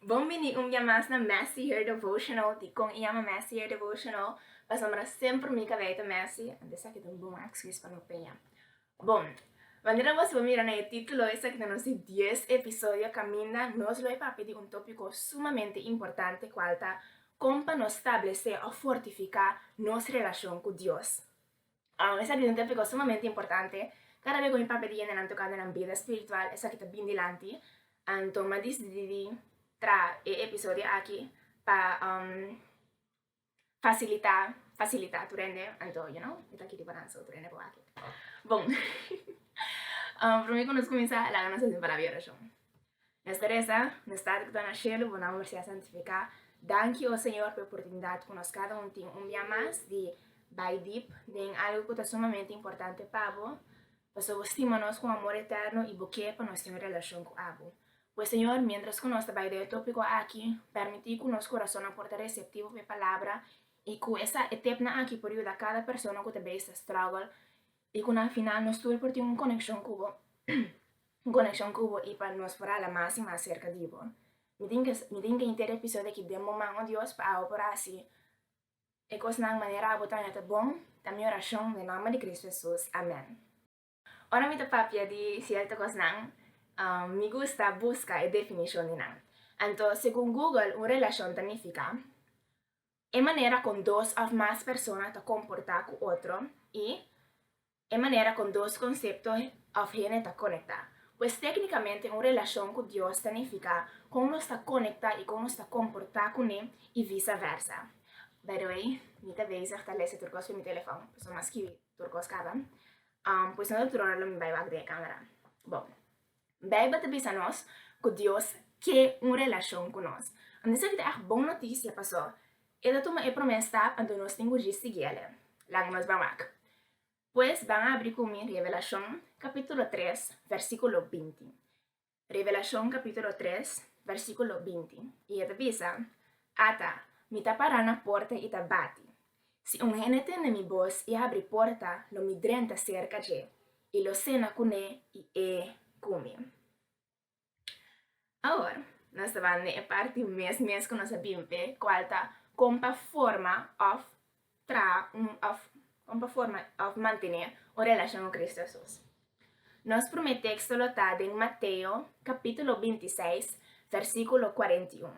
Bon bini un bia mas na Messy Hair Devotional, di kon e yama Messy Hair Devotional? Pasobra semper mi kabei ta messy, ant esaki ta un bon ekskus pa mi peña. Bon, manera nos lo mira na e titulo esaki ta nos di dies episodio kaminda nos lo a papia di un topiko sumamente importante kual ta kon pa nos stablesé òf fortifiká nos relashon ku Dios. Aun esaki tin tep di kos sumamente importante. Kada be ku mi Pape di yende nan tokando nan bida spiritual, esaki ta bin dilanti. Anto mi a disidí di tra e episodio aki pa fasilitá, fasilitá tur hende, anto you know, mi ta kiri pa nan so tur hende por wak. Bon, promé ku nos kuminsá, laga nos hasi un palabra di orashon. Mes teresa, mes tata ku ta na shelu, bo nomber sea santifiká. Danki, o Señor, pa e oportunidat ku nos kada un tin un bia mas di bai dip den algu ku ta sumamente importante pa bo, pasobra bo stima nos ku un amor eterno i bo ke pa nos tin un relashon ku abo. Pues, Señor, miéntras ku nos ta bai den e tópiko aki, pèrmití ku nos kurasonnan por ta reseptivo pa e palabra i ku e tepnan aki por yuda kada persona ku ta bai strágel I ku na final nos tur por tin un konekshon ku bo, un konekshon ku bo i pa nos por hala mas i mas serka di bo. Mi tin ke mi tin ke henter e episodio aki den bo man, o Dios, pa abo por hasi e kosnan manera abo ta mira ta bon, ta mi orashon den nomber di Kristu Hesus, amèn. Ora mi ta papia di sierto kosnan, mi gusta buska e definishon di nan. Anto, segun Google, un relashon ta nifiká, e manera kon dos òf mas persona ta komportá ku otro i e manera kon dos konsepto òf hende ta konektá. Pues téknikamente un relashon ku Dios ta nifiká kon nos ta konektá i kon nos ta komportá kuné i visa vèrsa. By the way, mi ta bezig ta lese tur kos ku mi telefòn, pasobra mi a skibi tur kos kaba, pues no ta trora lo mi bai wak den e kámara. Bo. Bijbel ta bisa nos ku Dios ke un relashon ku nos. Anto esaki ta èg bon notisia pasó E ta tuma e promé stap, anto nos tin ku riz sigui El'e. Laga nos bai mak. Pues, ban abri ku mi Revelashon, kapítulo tres, vèrsikulo binti. Revelashon, kapítulo tres, vèrsikulo binti, i e ta bisa, Ata, mi ta pará na porta i ta bati. Si un hende tende mi bos i abri porta, lo mi drenta serka dje, i lo sena kuné i e ku mi. Awor, nos ta bai na e parti mes mes ku nos a bin p'e, kual ta kon pa forma òf traha un òf kon pa forma òf mantené un relashon ku Kristu Hesus. Nos promé teksto lo ta den Mateo kapítulo binti seis, vèrsikulo kuarenta i un.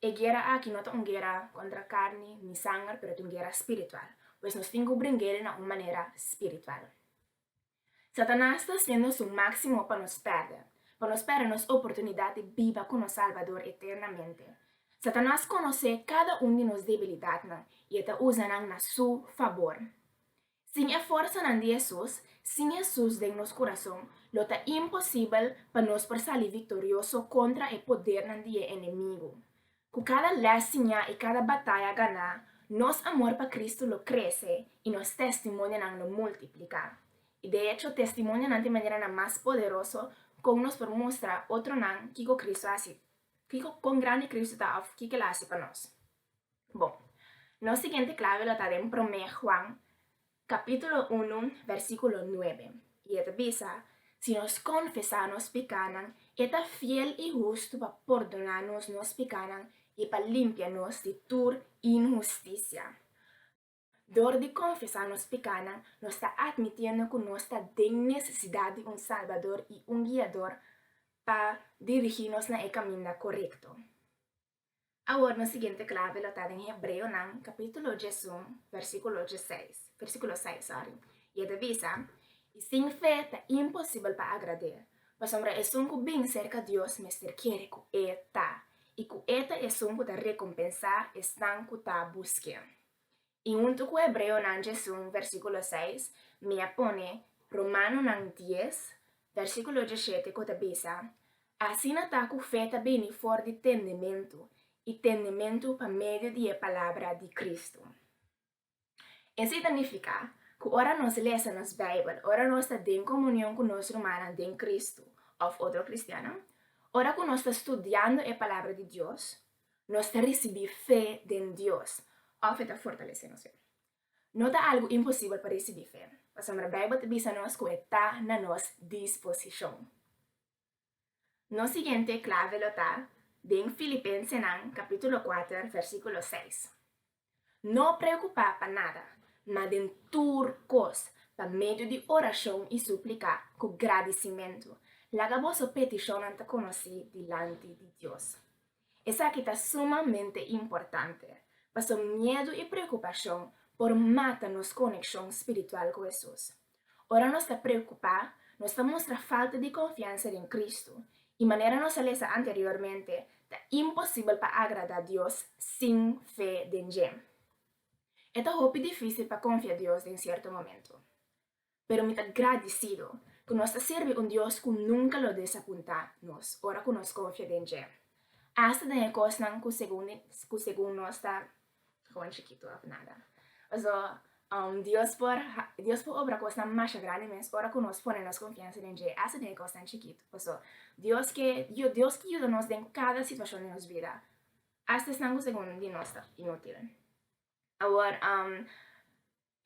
E guera aki no ta un guera kontra karni ni sanger, pero ta un guera spiritual. Pues nos tin ku bringel na un manera spiritual. Satanas ta hasiendo su máksimo pa nos pèrdè, pa nos pèrdè nos oportunidat di biba ku nos Salbador eternamente. Satanas konosé kada un di nos debilidatnan i e ta usa nan na su fabor. Sin e forsanan di Hesus, sin Hesus den nos kurason, lo ta imposibel pa nos por sali viktorioso kontra e podernan di e enemigu. Ku kada lès siñá i kada bataya ganá, nos amor pa Kristu lo krese i nos testimonionan lo multipliká. I de echo, testimonionan ta e maneranan mas poderoso kon nos por mustra otronan kiko Kristu a hasi, kiko, kon grandi Kristu ta òf kiko el a hasi pa nos. Bon, nos siguiente clave lo ta den Promé Juan, capítulo unu, versículo nuebe, i e ta bisa, Si nos confesá nos picánan, e ta fiel i hustu pa pordoná nos nos picánan i pa limpia nos di tur inhusticia. Dor di konfesá nos pekánan, nos ta atmitiendo ku nos ta den nesesidat di un Salbador i un Guiador pa dirigí nos na e kaminda korekto. Awor nos siguiente klave lo ta den Hebreonan kapítulo djèsun, vèrsíkulo djeseis, vèrsíkulo seis, sòri, i e ta bisa, I sin fe ta imposibel pa agrad'é, pasobra esun ku bin serka Dios mester kere ku E ta, i ku E ta esun ku ta rekompensá esnan ku ta busk'é. I huntu ku hebreonan djesun versíkulo seis, mi a pone Romanonan dies, versíkulo djeshete ku ta bisa, Asina ta ku fe ta bini for di tendementu, i tendementu pa medio di e palabra di Kristu. Esei ta nifiká ku ora nos lesa nos Beibel, ora nos ta den komunion ku nos rumannan den Kristu òf otro kristiannan, ora ku nos ta studiando e palabra di Dios, nos ta risibí fe den Dios òf e ta fortalesé nos fe. No ta algu imposibel pa risibí fe, pasobra Beibel ta bisa nos ku e ta na nos disposishon. Nos siguiente klave lo ta den Filipensenan kapítulo kuater, versíkulo seis. No preokupá pa nada, ma den tur kos, pa medio di orashon i súplika ku gradisimentu, laga boso petishonnan ta konosí dilanti di Dios. Esaki ta sumamente importante, pasobra miedu i preokupashon por mata nos konekshon spiritual ku Hesus. Ora nos ta preokupá, nos ta mustra falta di konfiansa den Kristu, i manera nos a lesa anteriormente, ta imposibel pa agradá Dios sin fe den dje. E ta hopi difísil pa konfia Dios den sierto momento. Pero mi ta gradisido ku nos ta sirbi un Dios ku nunka lo desapuntá nos ora ku nos konfia den dje, asta den e kosnan ku segun nos ta Juan chikito of nada. Paso, Dios por Dios por obra kosnan masha grandi mes ora ku nos pone nos konfiansa den dje, hasta den e kosnan chikit. Paso, Dios ke Dios ke yuda nos den kada situashon di nos bida, hasta esnan ku segun di nos ta inútil. Awor,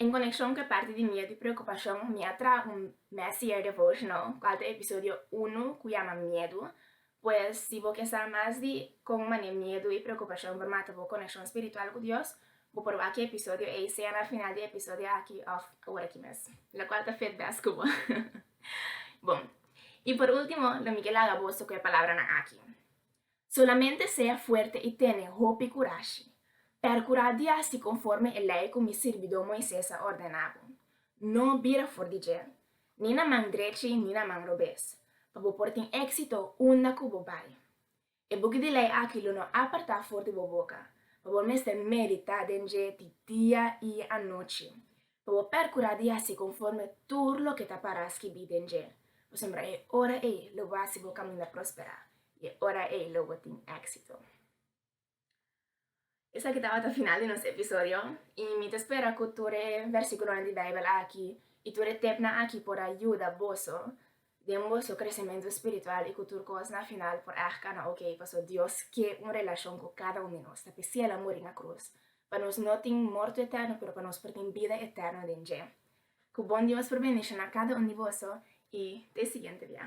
En konekshon ku e parti di miedu i preokupashon, mi a traha un Messier Devotional, kual ta episodio unu, ku yama Miedu. Pues, si bo ke sa mas di kon manera miedu i preokupashon por mata bo konekshon spiritual ku Dios, bo por wak e episodio ei sea na final di e episodio aki òf ora aki mes, lokual ta fet bèst ku bo. Bon, i por último, lo mi ke laga boso ku e palabranan aki. Solamente sea fuerte i tene hopi kurashi. Perkurá di hasi konforme e lei ku mi sirbidó Moises a ordená bo. No bira for di djel, ni na man drechi ni na man robes, pa bo por tin éksito unda ku bo bai. E buki di lei aki lo no apartá for di bo boka, pa bo mester meditá den dje di dia i anochi, Bo percura di haci conforme tur loke ta para skibí den dje, pasobra e ora ei lo bo haci bo caminda prospera, i e ora ei lo bo tin éxito. Esaki tabata final di nos episodio, i mi ta spera cu tur e versículonan di Bijbel aki i tur e tepnan aki por a yuda boso Den bo su kresementu spiritual i ku tur kos na final por èg kana oké paso Dios ke un relashon ku kada un di nos. Ta p'esei el a muri na krus, pa nos no tin morto etèrno pero pa nos por tin bida etèrno den dje. Ku bon Dios por bendishoná kada un di boso i te siguiente bia.